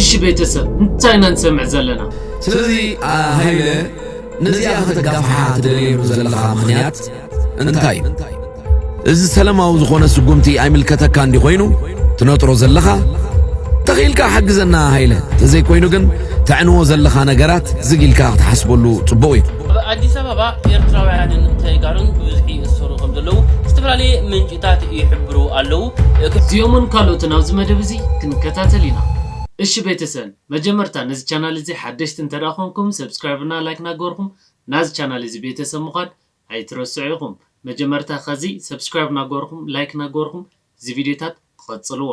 እሺ ቤተሰብ እንታይ ኢና ንሰምዕ ዘለና? ስለዚ ሃይለ ነዚኣ ከተጋፍሓ ትደልየሉ ዘለኻ ምኽንያት እንታይ እዩ? እዚ ሰለማዊ ዝኾነ ስጉምቲ ኣይምልከተካ እንዲ ኮይኑ ትነጥሮ ዘለኻ ተኽኢልካ ሓግዘና ሃይለ ተዘይኮይኑ ግን ተዕንዎ ዘለኻ ነገራት ዝግ ኢልካ ክትሓስበሉ ጽቡቕ እዩ። ኣብ ኣዲስ ኣበባ ኤርትራውያንን ተጋሩን ብብዝሒ ይእሰሩ ከም ዘለዉ ዝተፈላለየ ምንጪ ታት ይሕብሩ ኣለዉ። እዚኦምን ካልኦትን ኣብዚ መደብ እዚ ክንከታተል ኢና። እሺ ቤተሰን መጀመርታ ነዚ ቻናል እዚ ሓደሽቲ እንተድኣ ኮንኩም ሰብስክራይብ እና ላይክ ናገበርኩም ናዚ ቻናል እዚ ቤተሰብ ምኳን ኣይትረስዑ ኢኩም መጀመርታ ከዚ ሰብስክራይብ ናገበርኩም ላይክ ናገበርኩም እዚ ቪድዮታት ቐጽልዎ።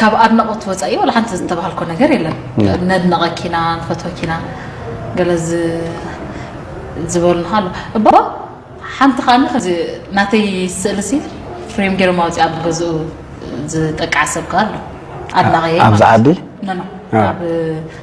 ካብ ኣድናቆት ወፃኢ ዋላ ሓንቲ ዝተባሃልኮ ነገር የለን ነድነቐኪና ንፈትወኪና ገለ ዝበሉና ኣሎ እባ ሓንቲ ከዓኒ ከዚ ናተይ ስእሊ ሲ ፍሬም ገይሮም ኣውፅኣ ኣብ ገዝኡ ዝጠቅዓ ሰብ ከ ኣሎ ኣድናቐየ ኣብዚ ዓዲ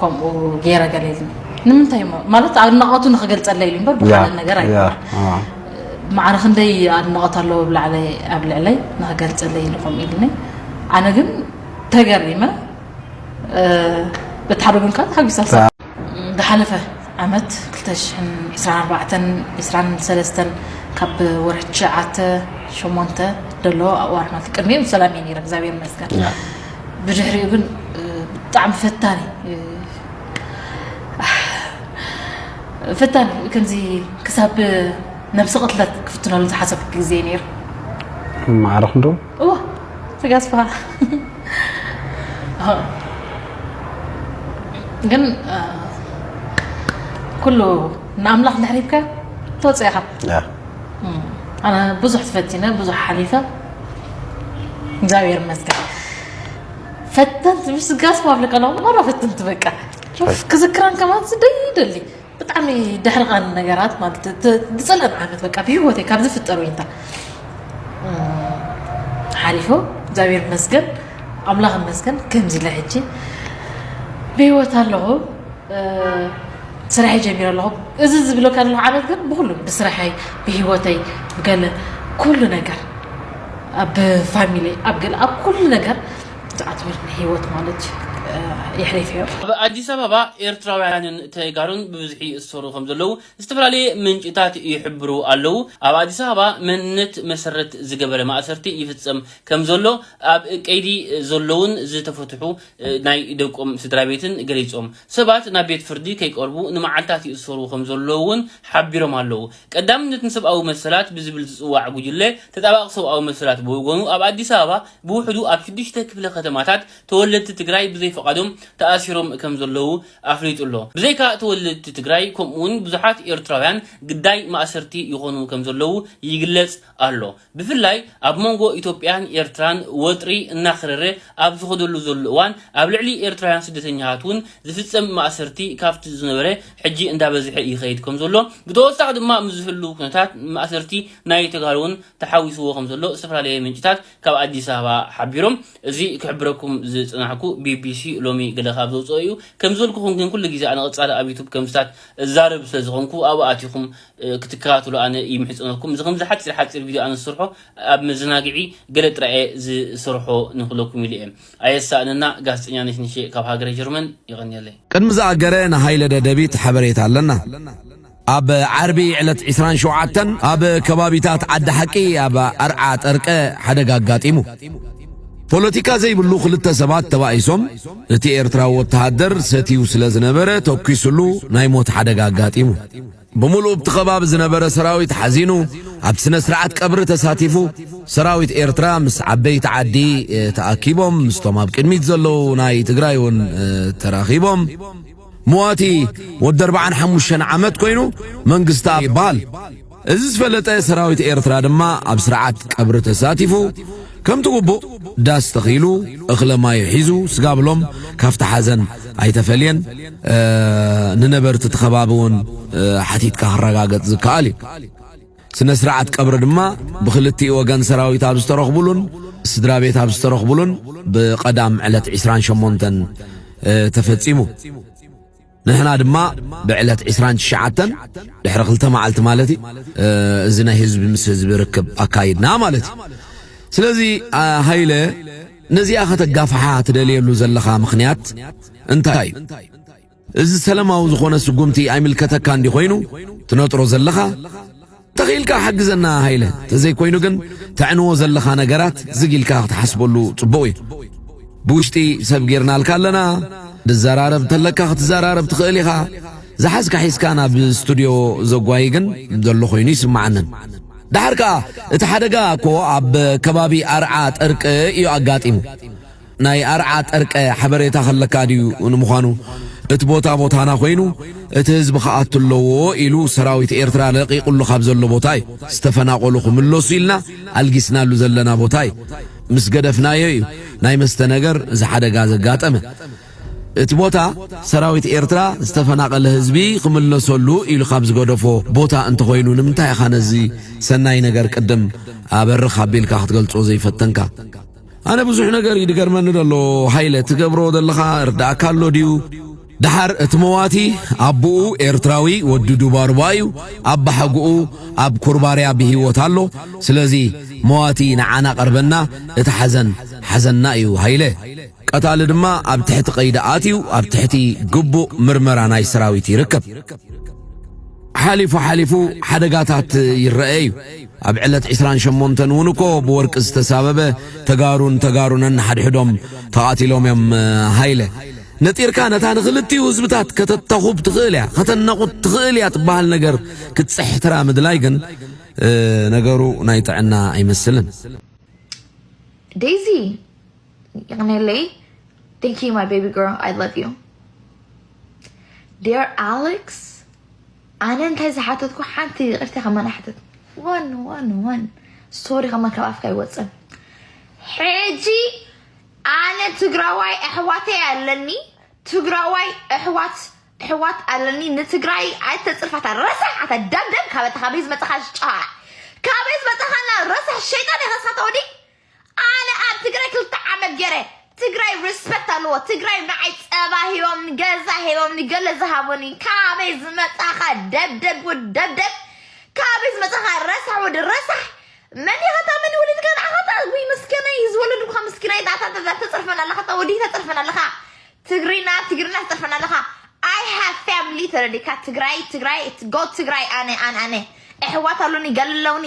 ከምኡ ገይረ ገለ ኢልኒ ንምንታይ እሞ ማለት ኣድናቐቱ ንክገልፀለ ኢሉ እምበር ብካልእ ነገር ኣይ ማዕረ ክንደይ ኣድናቐት ኣለዎ ብላዕለ ኣብ ልዕለይ ንክገልፀለ ኢሉ ከምኡ ኢልኒ ኣነ ግን ተገሪመ በቲ ሓደ ጎን ከዓ ተሓጒሳ ዝሓለፈ ዓመት 224 23 ካብ ወርሒ ትሽዓተ ሸሞንተ ደሎ ኣብዋርና ቅድሚኡ ሰላም እየ ነይረ እግዚኣብሔር ይመስገን ብድሕሪኡ ግን ብጣዕሚ ፈታኒ ፈታኒ ከምዚ ክሳብ ነብሲ ቅትለት ክፍትነሉ ዝሓሰብ ግዜ ነይሩ ማዕረኽ ዶ እዎ ተጋስፋ ግን ኩሉ ንኣምላኽ ድሕሪትካ ተወፅእኻ ኣነ ብዙሕ ትፈቲነ ብዙሕ ሓሊፈ እግዚኣብሔር ይመስገን። ፈተንቲ ምስ ጋስ ፓብሊክ ከለኹ ማራ ፈተንቲ በቃ ኡፍ ክዝክራን ከማን ስደይ ይደሊ ብጣዕሚ ድሕሪ ቃን ነገራት ማለት ዝፀልአን ዓመት በቃ ብሂወተይ ካብ ዝፍጠር ወይንታ ሓሊፎ እግዚኣብሔር ይመስገን ኣምላኽ ይመስገን ከምዚ ኢለ ሕጂ ብሂወት ኣለኹ ስራሐይ ጀሚረ ኣለኹ እዚ ዝብለካ ዘለኹ ዓመት ግን ብኹሉ ብስራሐይ ብሂወተይ ብገለ ኩሉ ነገር ኣብ ፋሚሊ ኣብ ገለ ኣብ ኩሉ ነገር ዝኣትወልኒ ሂወት ማለት እዩ የሕሊፈዮ። ኣብ ኣዲስ ኣበባ ኤርትራውያንን ተጋሩን ብብዝሒ ይእሰሩ ከምዘለዉ ዝተፈላለየ ምንጭታት ይሕብሩ ኣለዉ። ኣብ ኣዲስ ኣበባ መንነት መሰረት ዝገበረ ማእሰርቲ ይፍጸም ከምዘሎ ኣብ ቀይዲ ዘለዉን ዝተፈትሑ ናይ ደቆም ስድራቤትን ገሊጾም። ሰባት ናብ ቤት ፍርዲ ከይቀርቡ ንመዓልታት ይእሰሩ ከም ዘለዉ'ውን ሓቢሮም ኣለዉ። ቀዳምነት ንሰብኣዊ መሰላት ብዝብል ዝጽዋዕ ጉጅለ ተጣባቒ ሰብኣዊ መሰላት ብወገኑ ኣብ ኣዲስ ኣበባ ብውሕዱ ኣብ ሽዱሽተ ክፍለ ከተማታት ተወለድቲ ትግራይ ብዘይፍቓዶም ተኣሲሮም ከም ዘለዉ ኣፍሊጡ'ሎ። ብዘይካ ተወለድቲ ትግራይ ከምኡ'ውን ብዙሓት ኤርትራውያን ግዳይ ማእሰርቲ ይኾኑ ከም ዘለዉ ይግለጽ ኣሎ። ብፍላይ ኣብ መንጎ ኢትዮጵያን ኤርትራን ወጥሪ እናኽረረ ኣብ ዝኸደሉ ዘሎ እዋን ኣብ ልዕሊ ኤርትራውያን ስደተኛታት እውን ዝፍጸም ማእሰርቲ ካብቲ ዝነበረ ሕጂ እንዳበዝሐ ይኸይድ ከምዘሎ ብተወሳኺ ድማ ምስ ዝህልው ኩነታት ማእሰርቲ ናይ ተጋሩ እውን ተሓዊስዎ ከምዘሎ ዝተፈላለየ ምንጭታት ካብ ኣዲስ ኣበባ ሓቢሮም እዚ ክሕብረኩም ዝጸናሕኩ BBC ሎሚ ገለ ካብ ዘውጽኦ እዩ ከምዝበልኩኹም ግን ኩሉ ግዜ ኣነ ቀጻሊ ኣብ ዩቱብ ከምስታት እዛረብ ስለዝኾንኩ ኣብኡ ኣቲኹም ክትከታተሉ ኣነ ይምሕጸነኩም። እዚ ከምዚ ሓጺር ሓጺር ቪድዮ ኣነ ዝሰርሖ ኣብ መዘናግዒ ገለ ጥራይ እየ ዝሰርሖ ንክለኩም ኢለ እየ። ኣየሳእነና ጋዜጠኛ ነሽነሸ ካብ ሃገረ ጀርመን የቐንየለይ። ቅድሚ ዝኣገረ ንሃይለ ደደቢት ሓበሬታ ኣለና። ኣብ ዓርቢ ዕለት ዕስራን ሸውዓተን ኣብ ከባቢታት ዓዲ ሓቂ ኣብ ኣርዓ ጠርቀ ሓደጋ ኣጋጢሙ። ፖለቲካ ዘይብሉ ክልተ ሰባት ተባኢሶም እቲ ኤርትራዊ ወተሃደር ሰትዩ ስለ ዝነበረ ተኲስሉ ናይ ሞት ሓደጋ ኣጋጢሙ። ብምሉኡ ኣብቲ ከባቢ ዝነበረ ሰራዊት ሓዚኑ ኣብቲ ስነ-ስርዓት ቀብሪ ተሳቲፉ። ሰራዊት ኤርትራ ምስ ዓበይቲ ዓዲ ተኣኪቦም፣ ምስቶም ኣብ ቅድሚት ዘለዉ ናይ ትግራይ እውን ተራኺቦም። መዋቲ ወዲ ኣርብዓን ሓሙሽተን ዓመት ኮይኑ መንግስትኣብ ይበሃል። እዚ ዝፈለጠ ሰራዊት ኤርትራ ድማ ኣብ ስርዓት ቀብሪ ተሳቲፉ። ከምቲ ግቡእ ዳስ ተኺሉ፣ እኽለ ማዩ ሒዙ፣ ስጋብሎም ካብቲ ሓዘን ኣይተፈልየን። ንነበርቲ እቲ ከባቢ እውን ሓቲትካ ክረጋገጽ ዝከኣል እዩ። ስነ ስርዓት ቀብሪ ድማ ብክልቲኡ ወገን ሰራዊት ኣብ ዝተረኽቡሉን ስድራ ቤት ኣብ ዝተረኽቡሉን ብቀዳም ዕለት ዕስራን ሸሞንተን ተፈጺሙ። ንሕና ድማ ብዕለት ዕስራን ትሽዓተን ድሕሪ ክልተ መዓልቲ ማለት እዩ እዚ ናይ ህዝቢ ምስ ህዝቢ ርክብ ኣካይድና ማለት እዩ ስለዚ ሃይለ ነዚኣ ከተጋፍሓ ትደልየሉ ዘለኻ ምኽንያት እንታይ እዩ እዚ ሰለማዊ ዝኾነ ስጉምቲ ኣይምልከተካ እንዲ ኮይኑ ትነጥሮ ዘለኻ ተኺኢልካ ሓግዘና ሃይለ ተዘይ ኮይኑ ግን ተዕንዎ ዘለኻ ነገራት ዝግ ኢልካ ክትሓስበሉ ጽቡቕ እዩ ብውሽጢ ሰብ ጌርናልካ ኣለና ድዘራረብ ተለካ ክትዘራረብ ትኽእል ኢኻ ዝሓዝካ ሒዝካ ናብ ስቱድዮ ዘጓይ ግን ዘሎ ኮይኑ ይስምዓንን ደሓር ከኣ እቲ ሓደጋ እኮ ኣብ ከባቢ ኣርዓ ጥርቂ እዩ ኣጋጢሙ ናይ ኣርዓ ጠርቀ ሐበሬታ ከለካ ድዩ ንምዃኑ እቲ ቦታ ቦታና ኮይኑ እቲ ህዝቢ ክኣቱ ኣለዎ ኢሉ ሰራዊት ኤርትራ ለቂቁሉ ካብ ዘሎ ቦታ እዩ ዝተፈናቆሉ ክምለሱ ኢልና ኣልጊስናሉ ዘለና ቦታ እዩ ምስ ገደፍናዮ እዩ ናይ መስተ ነገር እዚ ሓደጋ ዘጋጠመ እቲ ቦታ ሰራዊት ኤርትራ ዝተፈናቐለ ህዝቢ ክምለሰሉ ኢሉ ካብ ዝገደፎ ቦታ እንተኾይኑ ንምንታይ ኢኻ ነዚ ሰናይ ነገር ቅድም ኣበርኽ ኣቢልካ ክትገልጾ ዘይፈተንካ? ኣነ ብዙሕ ነገር እዩ ድገርመኒ ደሎ ሃይለ ትገብሮ ዘለኻ እርዳእካ ኣሎ ድዩ ደሓር እቲ መዋቲ ኣቦኡ ኤርትራዊ ወዲ ዱባርባ እዩ ኣባሓጎኡ ኣብ ኩርባርያ ብሂወት ኣሎ ስለዚ መዋቲ ንዓና ቀርበና እቲ ሓዘን ሓዘንና እዩ ሃይለ ቀታሊ ድማ ኣብ ትሕቲ ቀይዲ ኣትዩ ኣብ ትሕቲ ግቡእ ምርመራ ናይ ሰራዊት ይርከብ ሓሊፉ ሓሊፉ ሓደጋታት ይረአ እዩ ኣብ ዕለት ዕስራን ሸሞንተን እውን እኮ ብወርቂ ዝተሳበበ ተጋሩን ተጋሩ ነንሓድሕዶም ተቓቲሎም እዮም ሃይለ ነጢርካ ነታ ንኽልቲኡ ህዝብታት ከተተኹብ ትኽእል እያ ከተናቑት ትኽእል እያ ትበሃል ነገር ክትፅሕትራ ምድላይ ግን ነገሩ ናይ ጥዕና ኣይመስልን ዴዚ ይቕኔለይ Thank you, my baby girl. I love you. Dear Alex, ኣነ እንታይ ዝሓተትኩ ሓንቲ ይቅርቲ ከማን ኣሕተት ዋን ዋን ዋን ስቶሪ ከማን ካብ ኣፍካ ይወፅን ሕጂ ኣነ ትግራዋይ ኣሕዋተይ ኣለኒ ትግራዋይ ኣሕዋት ኣሕዋት ኣለኒ ንትግራይ ኣይተፅርፋታ ረሳሕ ኣታ ደምደም ካበታ ካበይ ዝመፅኻ ሽጫ ካበይ ዝመፅኻና ረሳሕ ሸይጣን ኢኻ ንስኻ ተወዲ ኣነ ኣብ ትግራይ ክልተ ዓመት ገረ ትግራይ ሪስፐክት ኣለዎ ትግራይ ንዓይ ፀባ ሂቦምኒ ገዛ ሂቦምኒ ገለ ዝሃቡኒ ካበይ ዝመፃኻ ደብደብ ውድ ደብደብ ካበይ ዝመፃኻ ረሳሕ ውድ ረሳሕ መን ኢኻ እታ መን ወሊድካ ንዓኻ እታ ውይ ምስኪነይ ዝወለድኩኻ ምስኪነይ እታ እታ እታ ተፅርፈና ኣለኻ እታ ወዲህ ተፅርፈና ኣለኻ ትግሪና ትግሪና ተፅርፈና ኣለኻ ኣይ ሃቭ ፋሚሊ ተረዲካ ትግራይ ትግራይ ጎ ትግራይ ኣነ ኣነ ኣነ ኣሕዋት ኣሉኒ ገለ ኣለውኒ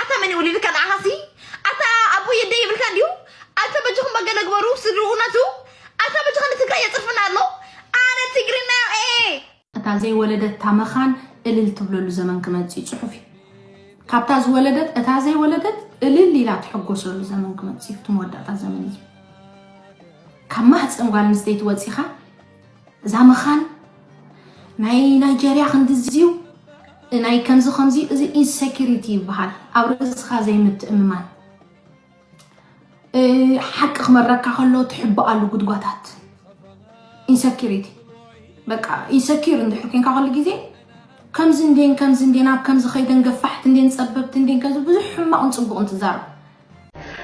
ኣታ መን ወሊድካ ንዓኻሲ ኣታ ኣቦይ የደይ ይብልካ እንዲዩ ኣታ በጅኹም በገለ ግበሩ ስድርኡ ነቱ ኣታ በጅኻ ንትግራይ የፅርፍና ኣሎ ኣነ ትግርና ኤ እታ ዘይወለደታ መኻን እልል ትብለሉ ዘመን ክመጽእ እዩ ጽሑፍ እዩ ካብታ ዝወለደት እታ ዘይወለደት እልል ኢላ ትሕጎሰሉ ዘመን ክመጽእ እዩ እቲ መወዳእታ ዘመን እዩ ካብ ማህፀን ጓል ኣንስተይቲ ወፂኻ እዛ መኻን ናይ ናይጀርያ ክንድዚዩ ናይ ከምዚ ከምዚ እዚ ኢንሴኪሪቲ ይበሃል ኣብ ርእስኻ ዘይምትእምማን ሓቂ ክመረካ ከሎ ትሕብኣሉ ጉድጓታት ኢንሰኪሪቲ በቃ ኢንሰኪር እንድሕር ኮንካ ከሉ ግዜ ከምዚ እንዴን ከምዚ እንዴን ኣብ ከምዚ ከይደን ገፋሕቲ እንዴን ፀበብቲ እንዴን ከምዚ ብዙሕ ሕማቕን ፅቡቕን ትዛረብ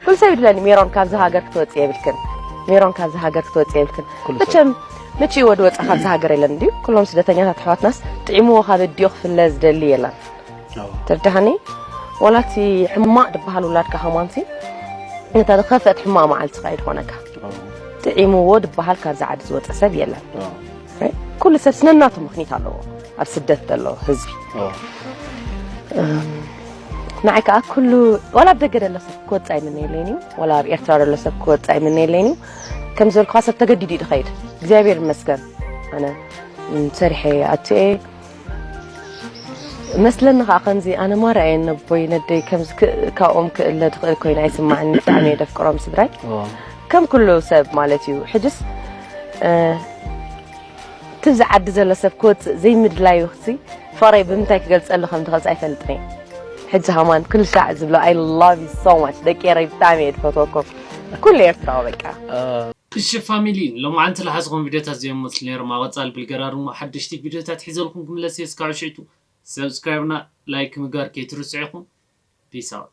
ኩሉ ሰብ ይድለኒ ሜሮን ካብዚ ሃገር ክትወፅእ የብልክን ሜሮን ካብዚ ሃገር ክትወፅእ የብልክን መቸም ምችእ ወዲ ወፃ ካብዚ ሃገር የለን እንድዩ ኩሎም ስደተኛታት ኣሕዋትናስ ጥዒምዎ ካብ እድዮ ክፍለ ዝደሊ የለን ትርዳሃኒ ዋላ እቲ ሕማቕ ድበሃል ውላድካ ከማንሲ ነታ ዝኸፍአት ሕማቕ መዓልትኻ እዩ ዝኾነካ ጥዒምዎ ድበሃል ካብዚ ዓዲ ዝወፀ ሰብ የለን ኩሉ ሰብ ስነናቱ ምክኒት ኣለዎ ኣብ ስደት ዘሎ ህዝቢ ንዓይ ከዓ ኩሉ ዋላ ኣብ ደገ ዘሎ ሰብ ክወፅእ ኣይምነየለይን እዩ ዋላ ኣብ ኤርትራ ዘሎ ሰብ ክወፅእ ኣይምነየለይን እዩ ከም ዝበልኩካ ሰብ ተገዲዱ እዩ ድኸይድ እግዚኣብሔር ይመስገን ኣነ ሰሪሐ ኣትየ መስለኒ ከዓ ከምዚ ኣነ ማራ እየ ነቦይ ነደይ ከምዚ ካብኦም ክእለ ድኽእል ኮይነ ኣይስማዕኒ ብጣዕሚ እየ ደፍቅሮም ስድራይ ከም ኩሉ ሰብ ማለት እዩ ሕጅስ ትብዚ ዓዲ ዘሎ ሰብ ክወጽእ ዘይምድላዩ ሲ ፍቕረይ ብምንታይ ክገልጸሉ ከም ዝኽእል ኣይፈልጥን እየ ሕጂ ሃማን ክልሻዕ ዝብሎ ኣይ ላቭ ዩ ሶ ማች ደቂ ኤረይ ብጣዕሚ እየ ዝፈትወኩም ኩሉ ኤርትራዊ በቃ እሺ ፋሚሊ ሎማዓንቲ ልሓዝኹም ቪድዮታት ዚኦም መስሉ ነይሮም ኣብ ቐፃሊ ብልገራ ድሞ ሓደሽቲ ቪድዮታት ሒዘልኩም ክምለስ እየ እስካዑ ሽዕቱ ሰብስክራይብና ላይክ ምግባር ከይትርስዑ ኢኹም ፒስ ኣውት